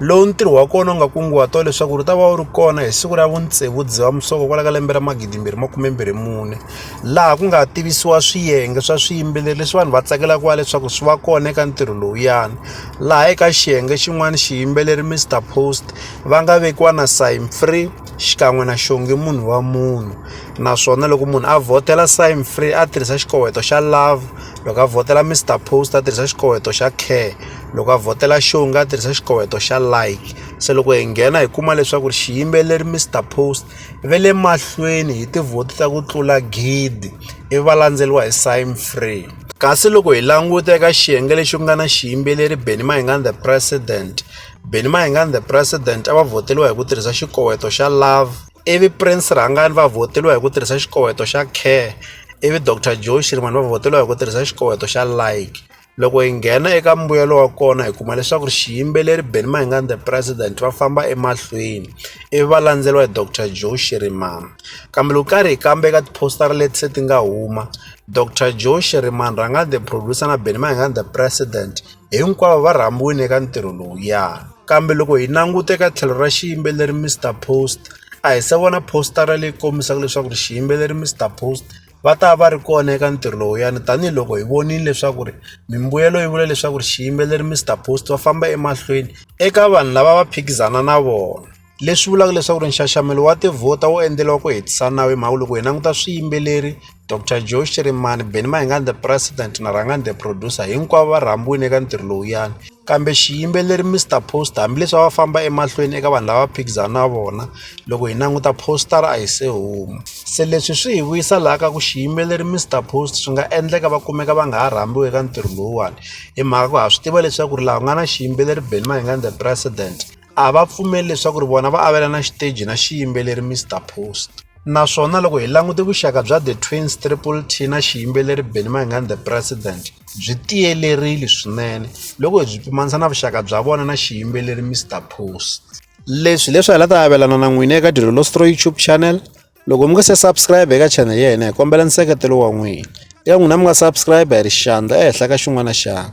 lowu ntirho wa kona u nga kunguhatiwa leswaku ri ta va wu ri kona hi siku ra vutsevu dzivamisoko kwala ka lembe ra magidi mbirhi makume mbirhi mune laha ku nga tivisiwa swiyenge swa swiyimbeleri leswi vanhu va tsakelaka wa leswaku swi va kona eka ntirho lowuyani laha eka xiyenge xin'wana xiyimbeleri mr post va nga vekiwa na sign free xikan'we na xonge munhu wa munhu naswona loko munhu a vhotela sign free a tirhisa xikoweto xa love loko a vhotela mr post a tirhisa xikoweto xa care loko a vhotela show nga tirhisa xikoweto xa like se loko hi nghena hi kuma leswaku ri xiyimbeleri mr post ve le mahlweni hi tivhoti ta ku tlula gidi ivi va landzeriwa hi sign free kasi loko hi languta eka xiyenge lexi ku nga na xiyimbeleri benny mahingani the president benny mahingani the president a va vhoteliwa hi ku tirhisa xikoweto xa love ivi prince rhangani va vhoteliwa hi ku tirhisa xikoweto xa care ivi dr joe shirimani va vhoteliwa hi ku tirhisa xikoweto xa like loko hi nghena eka mbuyelo wa kona hi kuma leswaku ri xiyimbeleri benny mahingani the president va famba emahlweni ivi va landzeriwa hi dr joe shirimani kambe loko karhi hi kamba eka tiphostara leti se ti nga huma dr joe shirimani rhangani the producer na benny mahingani the president hinkwavo va rhambiwile eka ntirho lowuya kambe loko hi languta eka tlhelo ra xiyimbeleri mr post a hi se vona postara leyi kombisaka leswaku ri xiyimbeleri mr post va ta va ri kona eka ntirho lowuyani tanihiloko hi vonile leswaku ri mimbuyelo yi vula leswaku ri xiyimbeleri Mister Post va famba emahlweni eka vanhu lava va phikizana na vona leswi vulaka leswaku ri nxaxamelo wa tivhota wu endleriwa ku hetisa nawu hi mhaka loko hi languta swiyimbeleri Doctor Joe Shirimani Benny Mayengani the president na Rhangani the producer hinkwavo va rhambiwile eka ntirho lowuyani. Kambe xiyimbeleri Mister Poster hambileswi a va famba emahlweni eka vanhu lava va phikizana na vona loko hi languta poster a hi se huma se leswi swi hi vuyisa laha ka ku xiyimbeleri Mister Post swi nga endleka va kumeka va nga ha rhambiwi eka ntirho lowuwani hi mhaka ku ha swi tiva leswaku ri laha ku nga na xiyimbeleri Benny Mayengani the president. a va pfumeli leswaku ri vona va avelana xiteji na xiyimbeleri Mr Post naswona loko hi langute vuxaka bya The Twins Triple T na xiyimbeleri Benny Mayengani The President byi tiyelerile swinene loko hi byi pimanisa na vuxaka bya vona na xiyimbeleri Mr Post leswi leswi hi la ta avelana na n'wina eka Dilo Lostro YouTube channel loko mi nga se subscribe eka channel ya hina hi kombela nseketelo wa n'wina eka n'wina mi nga subscribe hi ri xandla ehenhla ka xin'wana na xandla